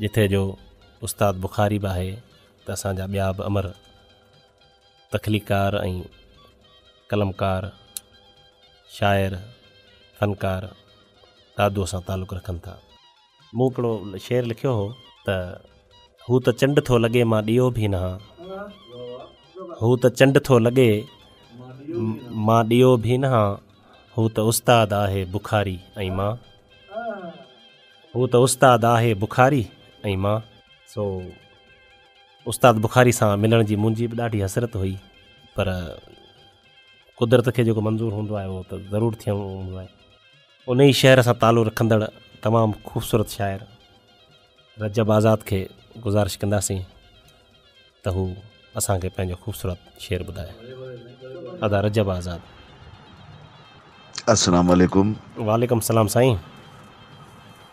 جتي جو استاد بخاري به آهي ته اسان جا ٻيا به امر تخليقڪار ۽ قلمڪار شاعر فنڪار دادوء سان تعلق رکن ٿا. مون هڪڙو شعر لکيو هو. ته هو ته چنڊ ٿو لڳي مان ڏيئو ڀي نه هان هو ته چنڊ ٿو لڳي مان ڏيئو ڀي نه هان هو ته استاد آهي بخاري ۽ مان. هو ته استاد آهي بخاري ۽ مان. سو استاد بخاري سان ملڻ جي منهنجي به ڏاڍي حسرت هئي پر قدرت کي جيڪو منظور هوندو آهي اهو ته ضرور ٿيڻو هوندو آهي. ان ئي شهر سان تعلق رکندڙ تمام خوبصورت شاعر رجب آزاد کي گذارش ڪنداسين. ته هو اسان کي پنهنجو خوبصورت شعر ٻڌائي. ادا رجب آزاد. السلام عليڪم. وعليڪم السلام سائين.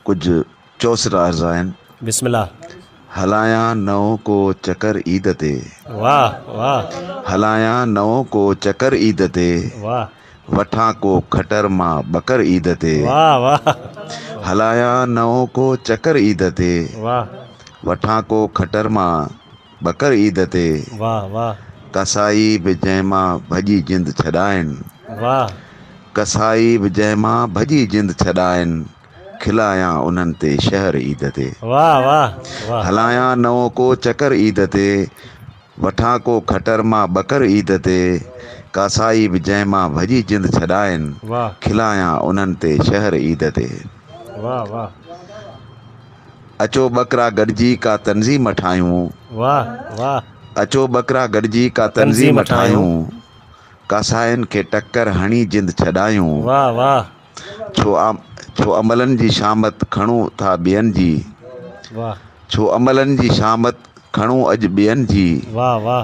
ڪجهه چوسٽ عرض آهن. بسم الله. هلايان نئون ڪو چڪر عيد تي. واھ واھ. هلايان نئون ڪو چڪر عيد تي. واھ. وٺان ڪو کٽر مان ٻڪر عيد تي. هلايان نئون ڪو چڪر عيد تي. وٺان ڪو کٽر مان ٻڪر عيد تي. قصائي به جنهن مان ڀڄي جند ڇڏائين. قصائي به جنهن مان ڀڄي جند ڇڏائين. کلايان انهن تي شهر عيد تي. هلايان نئون ڪو چڪر عيد تي. وٺان ڪو کٽر مان ٻڪر عيد تي، ڪاسائي به جنهن مان ڀڄي جند ڇڏائين، کلايان انهن تي شهر عيد تي. اچو ٻڪرا گڏجي ڪا تنظيم ٺاهيون، اچو ٻڪرا گڏجي ڪا تنظيم ٺاهيون، ڪاسائين کي ٽڪر هڻي جند ڇڏايون. ڇو املن جي شامت کڻو ٿا ٻين جي. ڇو املن جي شامت کڻو اڄ ٻين جي.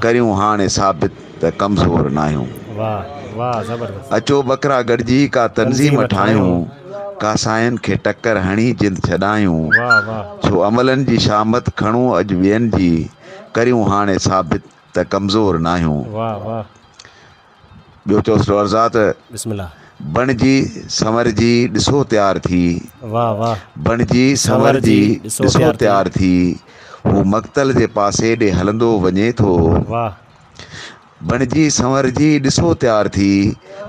ڪريون هاڻي ثابت ته ڪمزور ناهيون. اچو ٻڪرا گڏجي ڪا تنظيم ٺاهيون. ڪا سائين کي ٽڪر هڻي جند ڇڏايون. ڇو املن جي شامت کڻو اڄ ٻين جي. ڪريون هاڻي ثابت ته ڪمزور ناهيون. ٻيو چوس ڏور ذات. بسم الله. بڻجي سنورجي ڏسو تيار ٿي. واھ واھ. بڻجي سنورجي ڏسو تيار ٿي. هو مقتل جي پاسي ڏي هلندو وڃي ٿو. واھ. بڻجي سنورجي ڏسو تيار ٿي.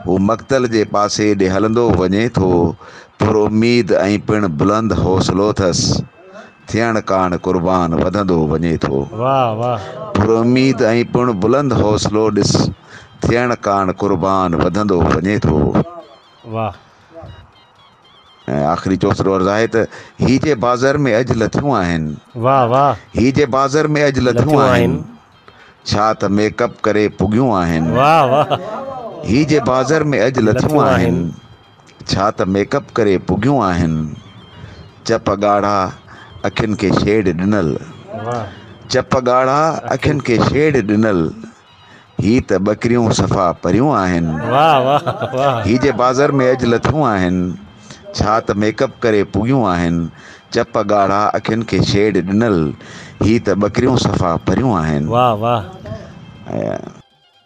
هو مقتل جي پاسي ڏي هلندو وڃي ٿو. پر اميد ۽ پڻ بلند حوصلو اٿس. ٿيڻ ڪاڻ قربان وڌندو وڃي ٿو. واه واه. پراميد ۽ پڻ بلند حوصلو ڏس ٿيڻ ڪاڻ قربان وڌندو وڃي ٿو. واه. ۽ آخري چوسرو عرض آهي ته هي جي بازر ۾ اڄ لٿيون آهن. واه واه. هي جي بازر ۾ اڄ لٿيون آهن. ڇا ته ميڪ اپ ڪري پڳيون آهن. واه واه. هي جي بازر ۾ اڄ لٿيون آهن. ڇا ته ميڪ اپ ڪري پگهيون آهن. چپ ڳاڙها اکين کي شيڊ ڏنل. چپ ڳاڙها اکين کي شيڊ ڏنل. هي ته ٻڪريون صفا پريون آهن. هي جي بازر ۾ اڄ لٿيون آهن. ڇا ته ميڪ اپ ڪري پگهيون آهن. چپ ڳاڙها اکين کي شيڊ ڏنل. هي ته ٻڪريون صفا پريون آهن.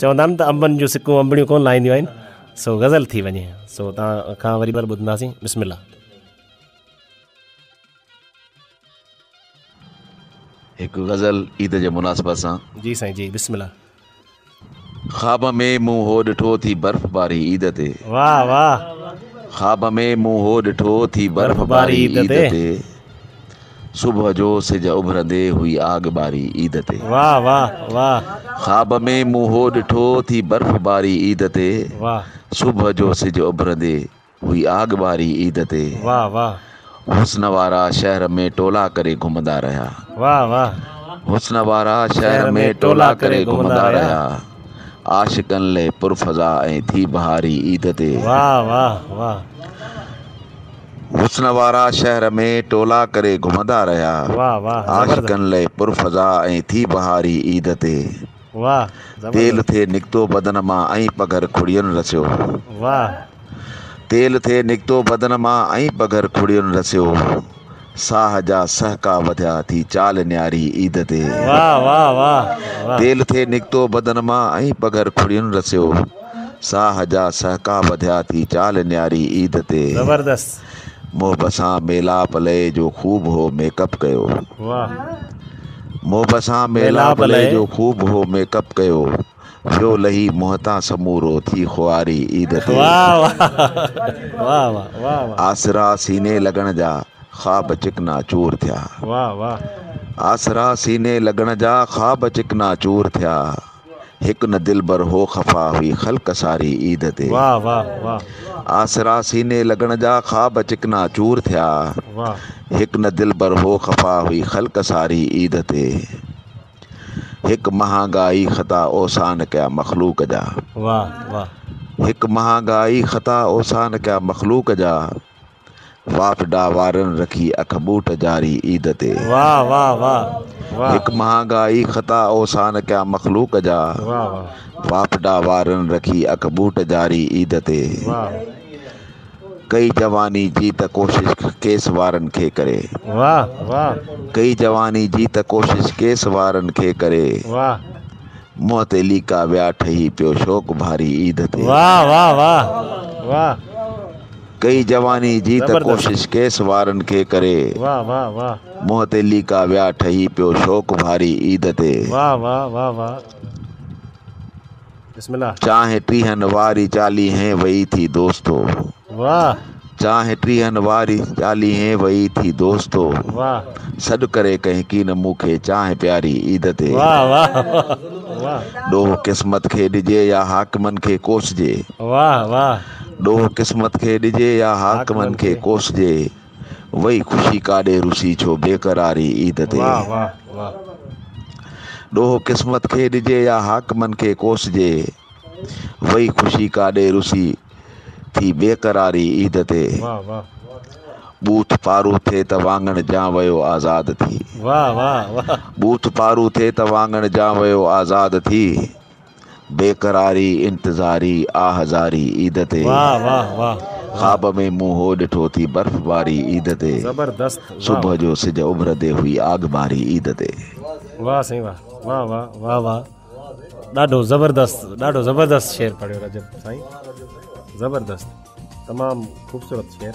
چوندا آهن ته انبن جون سڪون انبڙيون ڪونه لاهينديون آهن سو غزل ٿي وڃي سو تان کان وري بار ٻڌنداسين بسم الله هڪ غزل عيد جي مناسبت سان جي سائين جي بسم الله خواب ۾ مون هو ڏٺو ٿي برف باري عيد تي واهه واهه خواب ۾ مون هو ڏٺو ٿي برف باري عيد تي صبح جو سج اڀرندي هئي آڳ ٻاري عيد تي. واھ واھ واھ. خواب ۾ مون هو ڏٺو ٿي برف باري عيد تي. واھ. صبح جو سج اڀرندي هئي آڳ ٻاري عيد تي. واھ واھ. حسن وارا شهر ۾ ٽولا ڪري گهمندا رهيا. واھ واھ. حسن وارا شهر ۾ ٽولا ڪري گهمندا رهيا. عاشقن لئه پر فضا ۽ ٿي بهاري عيد تي. واھ واھ واھ. حسن وارا شهر ۾ ٽولا ڪري گهمندا رهيا عاشقن لئه پر فضا ۽ ٿي بهاري عيد تي تيل ٿي نڪتو بدن مان ۽ پگهر کڙين رسيو تيل ٿي نڪتو بدن مان ۽ پگهر کڙين رسيو ساهه جا سهڪا وڌيا ٿي چال نياري عيد تي تيل ٿي نڪتو بدن مان ۽ پگهر کڙين رسيو. ساهه جا سهڪا ٻڌيا ٿي چال نياري عيد تي زبردست. محب سان ميلاپ لئي جو خوب هو ميڪ اپ ڪيو. واھ. محب سان ميلاپ لئي جو خوب هو ميڪ اپ ڪيو ويو لهي منهن تان سمورو ٿي خواري عيد تي واھ واھ واھ واھ واھ واھ. آسرا سيني لڳڻ جا خواب چڪنا چور ٿيا. واھ واھ. آسرا سيني لڳڻ جا خواب چڪنا چور ٿيا. هڪ نه دلبر هو خفا هئي خلق ساري عيد تي واھ واھ واھ. آسرا سيني لڳڻ جا خواب چڪنا چور ٿيا واھ. هڪ نه دلبر هو خفا هئي خلق ساري عيد تي هڪ مهانگا ئي خطا اوسان ڪيا مخلوق جا واھ واھ. هڪ مهانگا ئي خطا اوسان ڪيا مخلوق جا. وافڊا وارن رکي اک ٻوٽ جاري عيد تي. واھ واھ واھ واھ. هڪ مهانگا ئي خطا اوسان ڪيا مخلوق جا. واھ واھ. وافڊا وارن رکي اک ٻوٽ جاري عيد تي. واھ. ڪئي جواني جي ته ڪوشش ڪيس وارن کي ڪري. واھ واھ. ڪئي جواني جي ته ڪوشش ڪيس وارن کي ڪري. واھ. منهن تي ليڪا ويا ٺهي پيو شوق ڀاري عيد تي. واھ واھ واھ واھ. ڪئي جواني جي ته ڪوشش ڪيس وارن کي ڪري منهن تي ليڪا ويا ٺهي پيو شوق ڀاري عيد تي چانهه ٽيهن واري چاليهين وئي ٿي دوستو چانهه ٽيهن واري چاليهين وئي ٿي دوستو سڏ ڪري ڪنهن ڪين مون کي چانهه پياري عيد تي ڏوهه قسمت کي ڏجي يا حاڪمن کي ڪوسجي ڏوهه قسمت کي ڏجي يا حاڪمن کي ڪوسجي وئي خوشي ڪاڏي روسي ڇو بيقراري عيد تي ڏوهه قسمت کي ڏجي يا حاڪمن کي ڪوسجي وئي خوشي ڪاڏي روسي ٿي بيقراري عيد تي بوٿ پارو ٿي ته واڱڻ جان ويو آزاد ٿي بوٿ پارو ٿي ته واڱڻ جان ويو آزاد ٿي بيقراري انتظاري آھ زاري عيد تي خواب ۾ مون ھو ڏٺو ٿي برف باري عيد تي صبح جو سج اڀرندي ھئي آگ ٻاري عيد تي. واھ سائين واھ واھ واھ واھ واھ ڏاڍو زبردست ڏاڍو زبردست شعر پڙھيو رجب سائين زبردست تمام خوبصورت شعر.